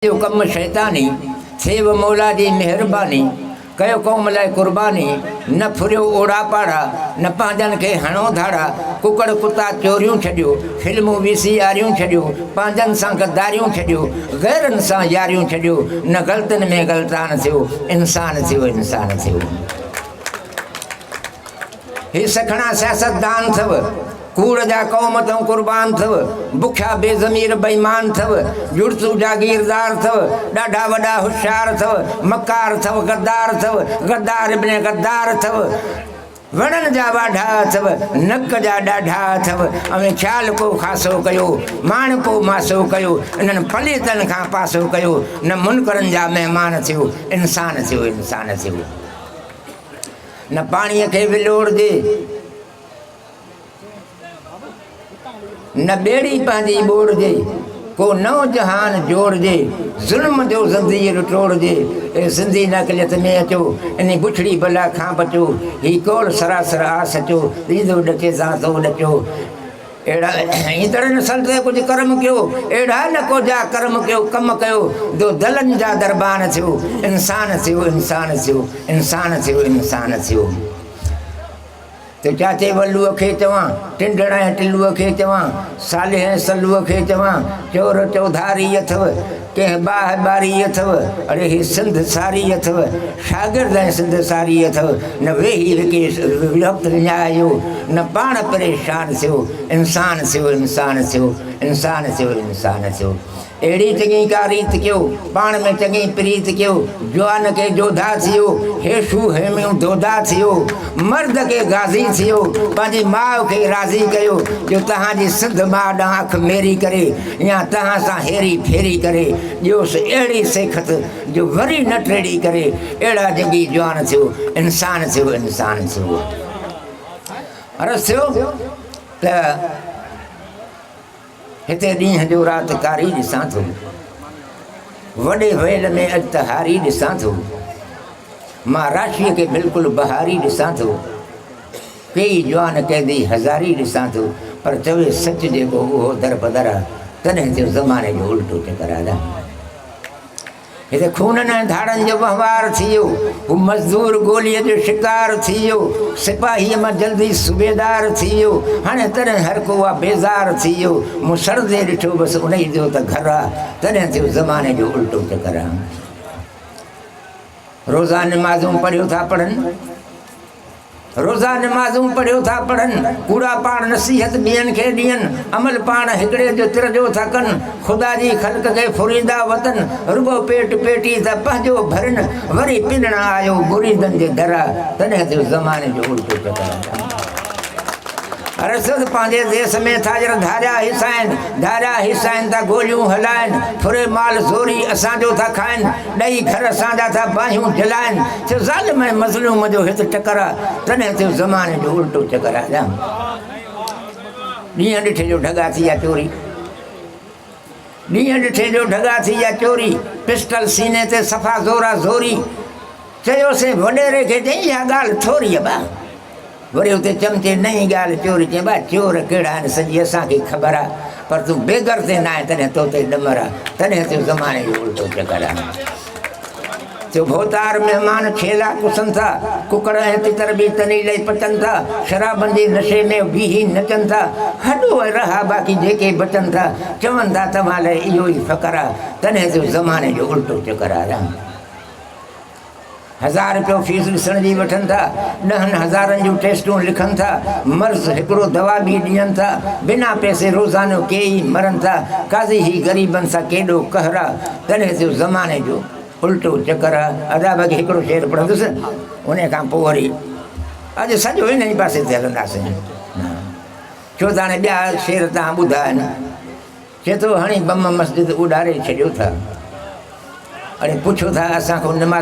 ڪيو ڪم شيطاني، ٿي و مولا جي مهرباني، ڪيو قوم لاء قرباني، نه ڦريو اوڙا پاڙا، نه پنهنجن کي هڻو ڌاڙا، ڪڪڙ ڪتا چوريون ڇڏيو، فلمون وي سي آريون ڇڏيو، پنهنجن سان غداريون ڇڏيو، غيرن سان ياريون ڇڏيو، نه غلطن ۾ غلطان ٿيو، انسان ٿيو انسان ٿيو. هي سکڻا سياستدان ٿئو، ڪوڙ جا قوم تئون قربان ٿئو، بکيا بي ضمير بيمان ٿئو، جڙتو جاگيردار ٿئو، ڏاڍا وڏا هوشيار ٿئو، مڪار ٿئو، غدار ٿئو، غدار ابن غدار ٿئو، وڻن جا واڍا ٿئو، نڪ جا ڏاڍا ٿئو، اوهين خيال ڪو خاصو ڪيو، ماڻ ڪو ماسو ڪيو، انهن پليتن کان پاسو ڪيو، نه منڪرن جا مهمان ٿيو، انسان ٿيو، انسان ٿيو. نه پاڻيء کي ولوڙجي، نه ٻيڙي پنهنجي ٻوڙجي، ڪو نئون جهان جوڙجي، ظلم جو زنجير ٽوڙجي، اي سنڌي نه اقليت ۾ اچو، انهي بڇڙي بلا کان بچو، هي قول سراسر آ سچو، ڏيندو ڏڪي سان سو ڏچو. اهڙا ۽ تڙ نه سنت ته ڪجهه ڪرم ڪيو، اهڙا نه ڪو جا ڪرم ڪيو، ڪم ڪيو جو دلن جا دربان ٿيو، انسان ٿيو، انسان ٿيو، انسان ٿيو، انسان ٿيو. ته چاچي ولوء کي چوان، ٽنڊڙ ۽ ٽلوء کي چوان، صالح ۽ سلوء کي چوان، چور چوڌاري اٿو، ڪي هبا هباري اٿو، اڙي هي سنڌ ساري اٿو، شاگرد ۽ سنڌ ساري اٿو، نه ويهي هڪي وقت وڃايو، نه پاڻ پريشان ٿيو، انسان ٿيو انسان ٿيو، انسان ٿيو انسان ٿيو. اهڙي چڱي ڪا ريت ڪيو، پاڻ ۾ چڱي پريت ڪيو، جوان ڪي جوڌا ٿيو، هيشو هيميون دودا ٿيو، مرد ڪي غازي ٿيو، پنهنجي ماء کي راضي ڪيو، جو تهان جي سنڌ ماء ڏانهن اک ميري ڪري، يا توهان سان هيري ڦيري ڪري ڏيوس اهڙي سيکت جو وري نه ٽيڙي ڪري اهڙا جڳي جوان ٿيو انسان ٿيو انسان ٿيو عرض ٿيو ته هتي ڏينهن جو رات ڪاري ڏسان ٿو وڏي ويل ۾ اڄ ته هاري ڏسان ٿو مان راشيء کي بلڪل بهاري ڏسان ٿو ڪيئي جوان قيدي هزاري ڏسان ٿو پر چوي سچ جيڪو اهو در بدر آ تڏهن ٿيو زماني جو الٽو چڪر آ ڏاهي هتي خونن ۽ ڌاڙن جو وهنوار ٿي ويو هو مزدور گولي جو شڪار ٿي ويو سپاهي مان جلدي صوبيدار ٿي ويو هاڻي تڏهن هر ڪو آ بيزار ٿي ويو مون سڙندي ڏٺو بس انهي جو ته گهر آ تڏهن ٿيو زماني جو الٽو چڪر آ روزان نمازون پڙهيو ٿا پڙهن روزا نمازون پڙهيو ٿا پڙهن، ڪوڙا پاڻ نصيحت ٻين کي ڏين، عمل پاڻ هڪڙي جو ترجو ٿا ڪن، خدا جي خلق کي ڦريندا وتن، رڳو پيٽ پيٽي ته پنهنجو ڀرين، وري پنڻ آيو مريدن جي در، تڏهن ٿيو زماني جو الٽو چڪر. رسد پنهنجي ديس ۾ تاجر ڌاريا هيسائين ڌاريا هيسائين ته گوليون هلائين ڦري مال زوري اسان جو ٿا کائين ڏئي گهر اسان جا ٿا باهيون جلائين ٿيو ظالم ۽ مظلوم جو هت ٽڪر آ تڏهن ٿيو زماني جو الٽو چڪر آ ڏينهن ڏٺي جو ڍڳا ٿي يا چوري ڏينهن ڏٺي جو ڍڳا ٿي يا چوري پسٽل سيني تي صفا زورا زوري چيوسين وڏيري کي چئي اها ڳالهه ٿوري ابا وري اتي چمچي نئين ڳالهه چوري چئين ڀاء چور ڪهڙا آهن سڄي اسان کي خبر آ پر تون بيگر تي نه آهين تڏهن تو تي ڏمر آ تڏهن تون زماني جو الٽو چڪر هڻين ٿيو ڀوتار مهمان کيلا پسن ٿا ڪڪڙ ۽ تتر به تني لئي پچن ٿا شرابن جي نشي ۾ بيهي نچن ٿا هڏو ۽ رها باقي جيڪي بچن ٿا چون ٿا توهان لئي اهو ئي فقر آ تڏهن تون زماني جو الٽو چڪر آ هزار رپيو فيس ڏسڻ جي وٺن ٿا، ڏهن هزارن جون ٽيسٽون لکن ٿا، مرض هڪڙو دوا ٻي ڏين ٿا، بنا پئسي روزانو ڪي ئي مرن ٿا، قاضي هي غريبن سان ڪيڏو قهر آ، تڏهن جو زماني جو الٽو چڪر آ، ادا باقي هڪڙو شعر پڙهندس انهي کان پوء وري اڄ سڄو انهي پاسي تي هلنداسين ڇو ته هاڻي ٻيا شعر تان ٻڌا آهن چي ٿو هڻي بم مسجد اڏاري ڇڏيو ٿا اڙي پڇو ٿا اسان کان نماز